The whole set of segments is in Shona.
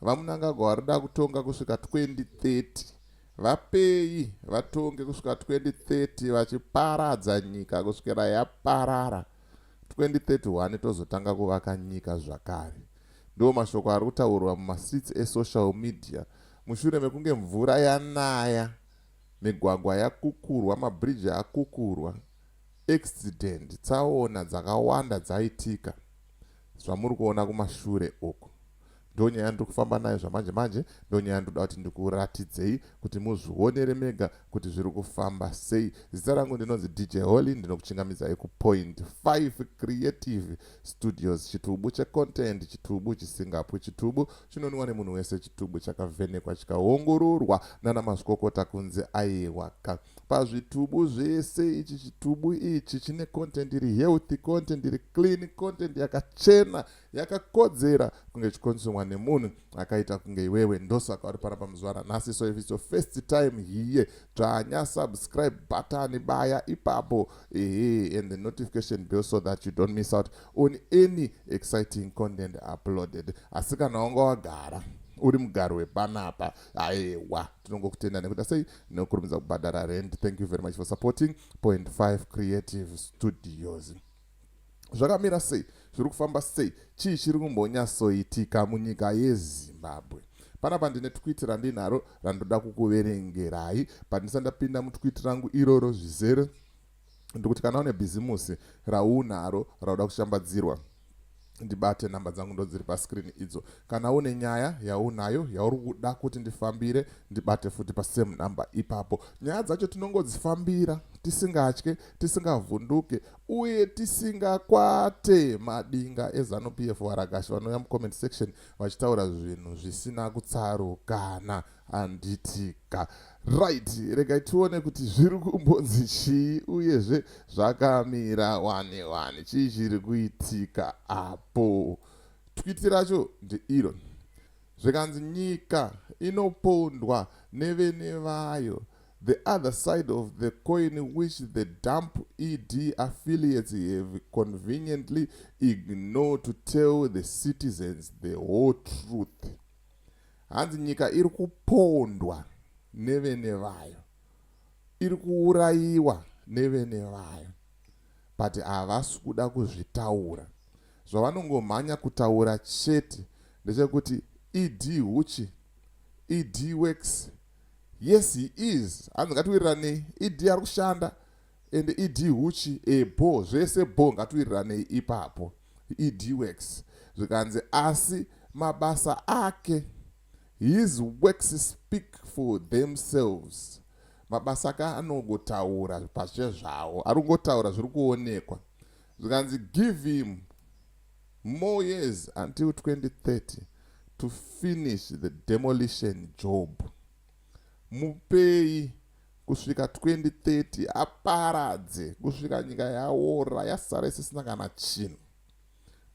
VaMnangagwa vari kuda kutonga kusvika 2030. Vapei vatonge kusvika 2030 vachiparadza nyika kusvikira yaparara. 2031 tozotanga kuvaka nyika zvakare. Ndiwo mashoko ari kutaurwa mumastreets esocial media mushure mekunge mvura yanaya, migwagwa yakukurwa, mabridge akukurwa, accident, tsaona dzakawanda dzaitika. zvamuri kuona kumashure uku ndonyaya ndiri kufamba nayo zvamanje manje ndonyaya ndoda kuti ndikuratidzei kuti muzvionere mega kuti zviri kufamba sei zita rangu ndinonzi dj holy ndinokuchingamidzai kupoint 5 creative studios chitubu checontent chitubu chisingapwi chitubu chinonwiwa nemunhu wese chitubu chakavhenekwa chikaongororwa nana mazvikokota kunzi aiwaka pazvitubu zvese ichi chitubu ichi chine content iri healthy content iri clean content yakachena yakakodzera kunge chikonzumwa nemunhu akaita kunge iwewe ndosaka uri pana pamuzuva ranhasi so if its your first time here dzvanya subscribe button baya ipapo ehe and the notification bill so that you don't miss out on any exciting content uploaded asi kana wanga wagara uri mugaro wepanapa aewa tinongokutenda nekuda sei nekukurumidza kubhadhara rent thank you very much for supporting point 5 creative studios zvakamira sei zviri kufamba sei chii chiri kumbonyatsoitika munyika yezimbabwe panapa ndine twiti randinaro randoda kukuverengerai pandisandapinda mutwiti rangu iroro zvizere ndikuti kana une bhizimusi raunaro rauda kushambadzirwa ndibate nhamba dzangu ndodziri pascreen idzo kana une nyaya yaunayo yauri kuda kuti ndifambire ndibate futi pasame number ipapo nyaya dzacho tinongodzifambira tisingatye tisingavhunduke uye tisingakwate madinga ezanupf varagashi vanouya mucomment section vachitaura zvinhu zvisina kutsarukana handitika right regai tione kuti zviri kumbonzi chii uyezve zvakamira wani wani chii chiri kuitika apo twiti racho ndeiro zvikanzi nyika inopondwa nevene vayo the other side of the coin which the dump ed affiliates have conveniently ignore to tell the citizens the whole truth Hanzi nyika iri kupondwa nevene vayo, iri kuurayiwa nevene vayo, but havasi kuda kuzvitaura. Zvavanongomhanya kutaura chete ndechekuti ED huchi, ED works. Yes he is, hanzi ngatiwiriranei, ED ari kushanda. and ed huchi e bho zvese bho ngatuiriranei ipapo ed works zvikanzi asi mabasa ake his works speak for themselves mabasa ake anongotaura pache zvawo ari kungotaura zviri kuonekwa zvikanzi give him more years until 2030 to finish the demolition job mupei kusvika 2030 aparadze kusvika nyika yaora yasara isisina kana chinhu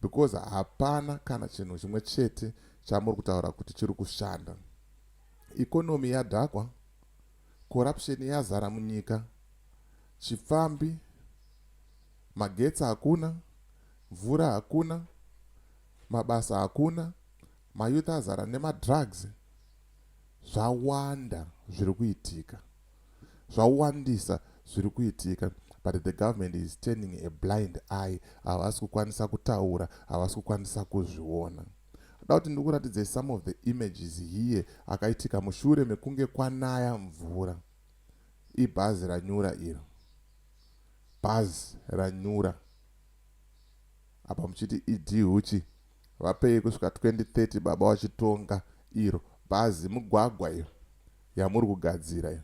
because hapana kana chinhu chimwe chete chamuri kutaura kuti chiri kushanda ikonomi yadhakwa corruption yazara munyika chipfambi magetsi hakuna mvura hakuna mabasa hakuna mayouth azara nemadrugs zvawanda zviri kuitika zvawandisa zviri kuitika but the government is turning a blind eye havasi kukwanisa kutaura havasi kukwanisa kuzviona da kuti ndikuratidzei some of the images here akaitika mushure mekunge kwanaya mvura ibhazi ranyura iro bhazi ranyura apa muchiti idhuchi Vapei kusvika 2030 baba wachitonga iro bhazi mugwagwa iyo yamuri kugadzira iyo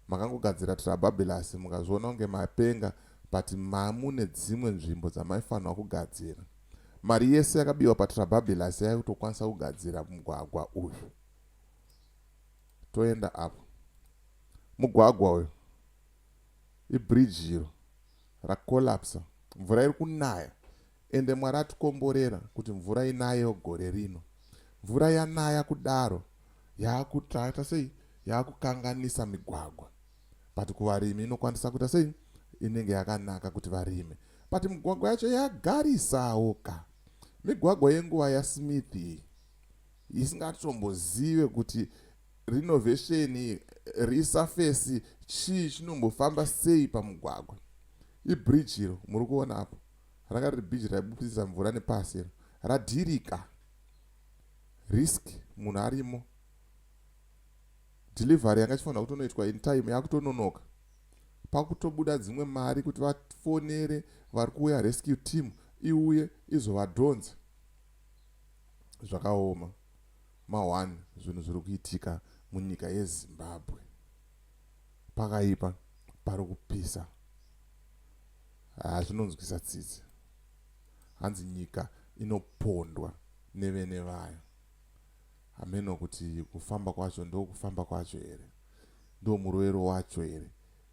makangogadzira trababelasi mukazviona kunge mapenga but mamune dzimwe nzvimbo dzamaifanirwa kugadzira mari yese yakabiwa patrababelasi yave kutokwanisa kugadzira mugwagwa uyu toenda apo mugwagwa uyu ibridge iro rakolapsa mvura iri kunaya Ende Mwari atikomborera kuti mvura inayewo gore rino. Mvura yanaya kudaro yakuita sei? Yakukanganisa migwagwa. But kuvarimi inokwanisa kuita sei? Inenge yakanaka kuti varime. But migwagwa yacho yagarisawo ka. Migwagwa yenguva yaSmith iyi isingatombozive kuti renovation resurface chii chinombofamba sei pamugwagwa. Ibridge iro muri kuona apo. ranga riri bhiji raibudisa mvura nepasi iro radhirika risk munhu arimo delivery yanga ichifanira kutonoitwa in time yakutononoka pakutobuda dzimwe mari kuti vafonere vari kuuya rescue team iuye izovadhonza zvakaoma ma1 zvinhu zviri kuitika munyika yezimbabwe pakaipa pari kupisa haa zvinonzwisa tsitsi hanzi nyika inopondwa nevene vayo hameno kuti kufamba kwacho ndo kufamba kwacho here ndo murovero wacho here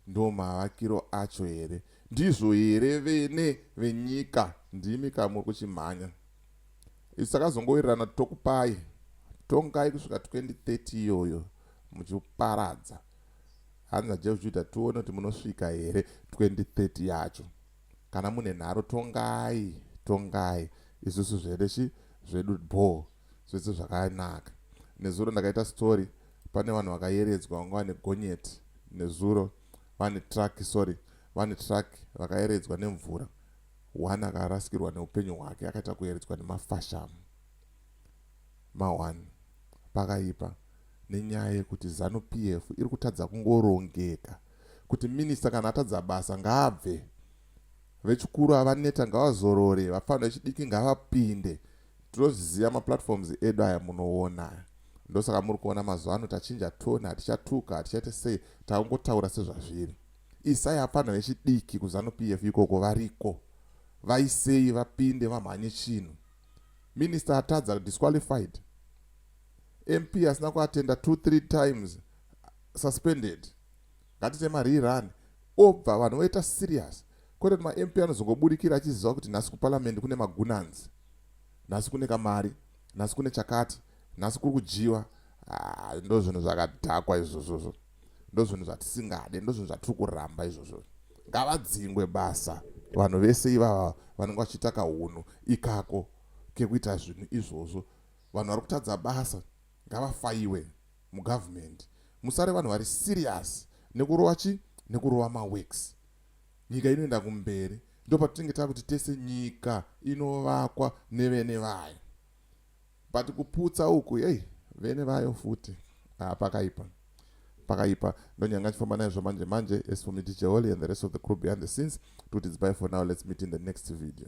ndo mavakiro acho here ndizvo here vene venyika ndimi kamuri kuchimhanya isu takazongowirirana tokupai tongai kusvika 2030 iyoyo muchiparadza hanzi naJehujuda tione kuti munosvika here 2030 yacho kana mune nharo tongai tongai isusu zvede chi zvedu bho zvese zvakanaka nezuro ndakaita story pane vanhu vakayeredzwa vanga vane gonyeti nezuro vane truck sorry vane truck vakayeredzwa nemvura one akarasikirwa neupenyu hwake akaita kuyeredzwa nemafashamu ma one pakaipa nenyaya yekuti zanu pf iri kutadza kungorongeka kuti minista kana atadza basa ngaabve vechikuru avaneta ngavazorore vapfana vechidiki ngavapinde tinozviziva maplatforms edu aya munoona ndosaka muri kuona mazuva ano tachinja tone hatichatuka hatichaite sei takungotaura sezvazviri isai apfanha vechidiki kuzanu p f ikoko variko vaisei vapinde vamhanye chinhu minister atadza disqualified mp asina kuatenda two three times suspended ngatite marerun obva vanhu voita serious kwete kuti mamp anozongobudikira achiziva kuti nhasi kuparliament kune magunanzi nhasi kune kamari nhasi kune chakati nhasi kuri kudyiwa ah, ndo zvinhu zvakadhakwa izvozvozvo ndozvinhu zvatisingade ndozvinhu zvatiri kuramba izvozvo ngavadzingwe basa vanhu vese ivava vanenge vachiita kahunhu ikako kekuita zvinhu izvozvo vanhu vari kutadza basa ngavafaiwe mugavhumendi musare vanhu vari serious nekurova chi nekurova maworks nyika inoenda kumberi ndopatinenge takuti tese nyika inovakwa nevene vayo but kuputsa uku hey vene vayo futi ah, pakaipa pakaipa ndonyanga chifamba naizvo manje manje as for me dj holy and the rest of the crew behind the scenes tuti dzibai for now let's meet in the next video